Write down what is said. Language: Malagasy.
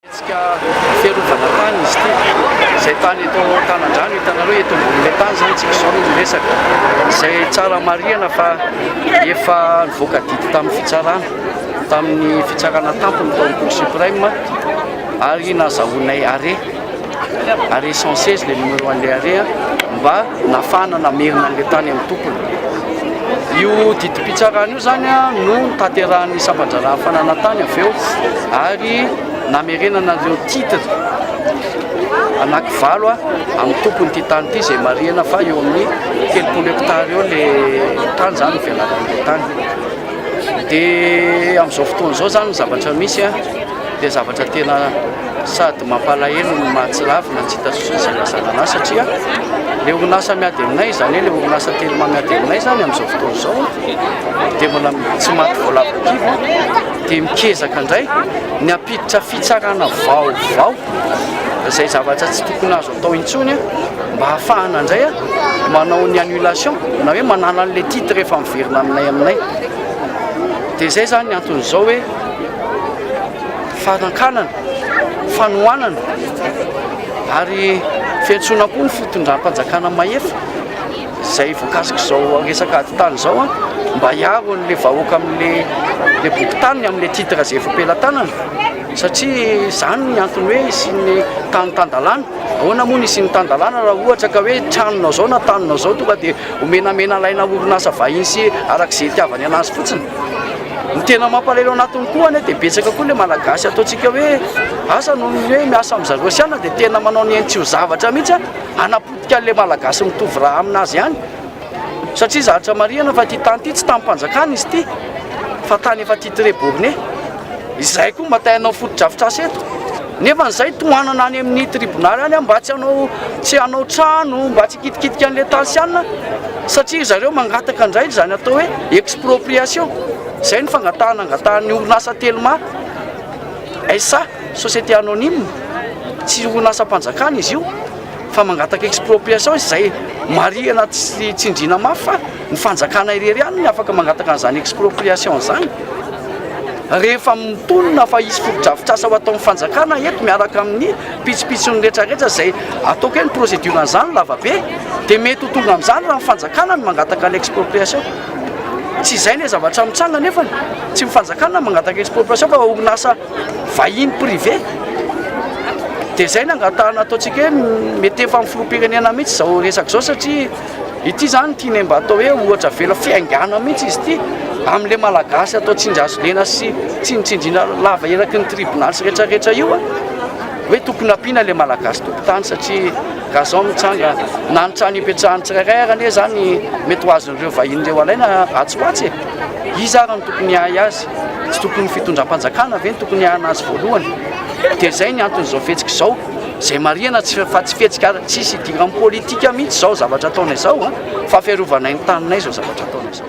Hetsika fiarovana tany izy ity. Izay tany eto an-tanan-drano hitanareo eto ambonin'ilay tany izany isika izao no miresaka. Izay tsara marihana fa efa nivoaka didy tamin'ny fitsarana, tamin'ny fitsarana tampony tao amin'ny Cour suprême ary nazahoanay arrêt, arrêt 116 ilay numéro an'ilay arrêt mba nafahana namerina an'ilay tany amin'ny tompony. Io didim-pitsarana io. Teo izany no nitanterahan'ny sampan-draharaha fananantany avy eo ary namerenana ireo titres anakivalo amin'ny tompon'ity tany ity izay marihana fa eo amin'ny telopolo hectares eo le tany izany velaran'ilay tany. Dia amin'izao fotoana izao izany ny zavatra misy Dia zavatra tena sady mampalahelo no mahatsiravina ny tsy hita sosony izay ilazana an'ahy satria ilay orinasa miady aminay izany hoe ilay orinasa Telma miady aminay izany amin'izao fotoana izao dia mbola tsy maty voalavo kibo dia mikezaka indray ny hampiditra fitsarana vaovao izay zavatra tsy tokony azo atao intsony mba hahafahana indray manao ny annulation na hoe manala an'ilay titre efa miverina aminay aminay dia izay izany ny anton'izao hoe fanankanana, fanohanana ary fiantsoana koa ny fitondram-panjakana mahefa izay voakasik'izao resaka ady tany izao mba hiaro an'ilay vahoaka amin'ilay boky taniny amin'ilay titre izay efa am-pelatanana satria izany ny antony hoe hisian'ny tany tan-dalàna. Ahoana moa ny hisian'ny tan-dalàna raha ohatra ka hoe tranonao izao na taninao izao tonga dia ho menamenalaina orinasa vahiny sy araka izay itiavany an'azy fotsiny. Ny tena mampalahelo anatiny koa anie dia betsaka koa ilay Malagasy ataontsika hoe asa noho ny hoe miasa amin'i zareo sy anona dia tena manao ny ainy tsy ho zavatra mihitsy an, hanapotika an'ilay Malagasy mitovy rà amin'azy ihany satria zatra marihina fa ity tany ity tsy tanim-panjakana izy ity fa tany efa titre borne. Izay koa mba te hanao fotodrafitrasa eto. Nefa izay tohanana any amin ny tribonaly any mba tsy hanao tsy hanao trano mba tsy hikitikitika an'ilay tansianina satria ry zareo mangataka indray izany atao hoe expropriation izay ny fangatahana angatahan'ny orinasa telma SA, société anonyme, tsy orinasam-panjakana izy io fa mangataka expropriation izy izay marihina sy tsindriana mafy fa ny fanjakana irery ihany no afaka mangataka an'izany expropriation izany. Rehefa mitonona fa hisy fotodrafitrasa ho ataon'ny fanjakana eto miaraka amin'ny pitsopitsony retraretra izay ataoko hoe ny procédure an'izany lavabe dia mety ho tonga amin'izany raha ny fanjakana no mangataka ny expropriation. Tsy izay ilay zavatra mitranga nefany tsy ny fanjakana no mangataka expropriation fa orinasa vahiny privé. Dia izay no angatahana ataontsika hoe mety efa amin'ny filoham-pirenena mihitsy izao resaka izao satria Ity izany tianay mba atao hoe ohatra avela fiaingàna mihitsy izy ity amin'ilay Malagasy atao tsinjazolena sy tsinontsindriana lava eraky ny tribonaly sy rehetra rehetra io hoe tokony ampiana ilay Malagasy tompon-tany satria gazon mitsanga na ny trano ipetrahan'ny tsirairay ary anie izany mety ho azon'ireo vahiny ireo alaina atsy ho atsy e iza ary no tokony hahay azy tsy tokony fitondram-panjakana ve ny tokony hahana azy voalohany dia izay ny anton'izao fihetsika izao Izay marihana tsy fa tsy fihetsika ary tsisy idiran'ny politika mihitsy izao zavatra ataonay izao fa fiarovanay ny taninay izao zavatra ataonay izao.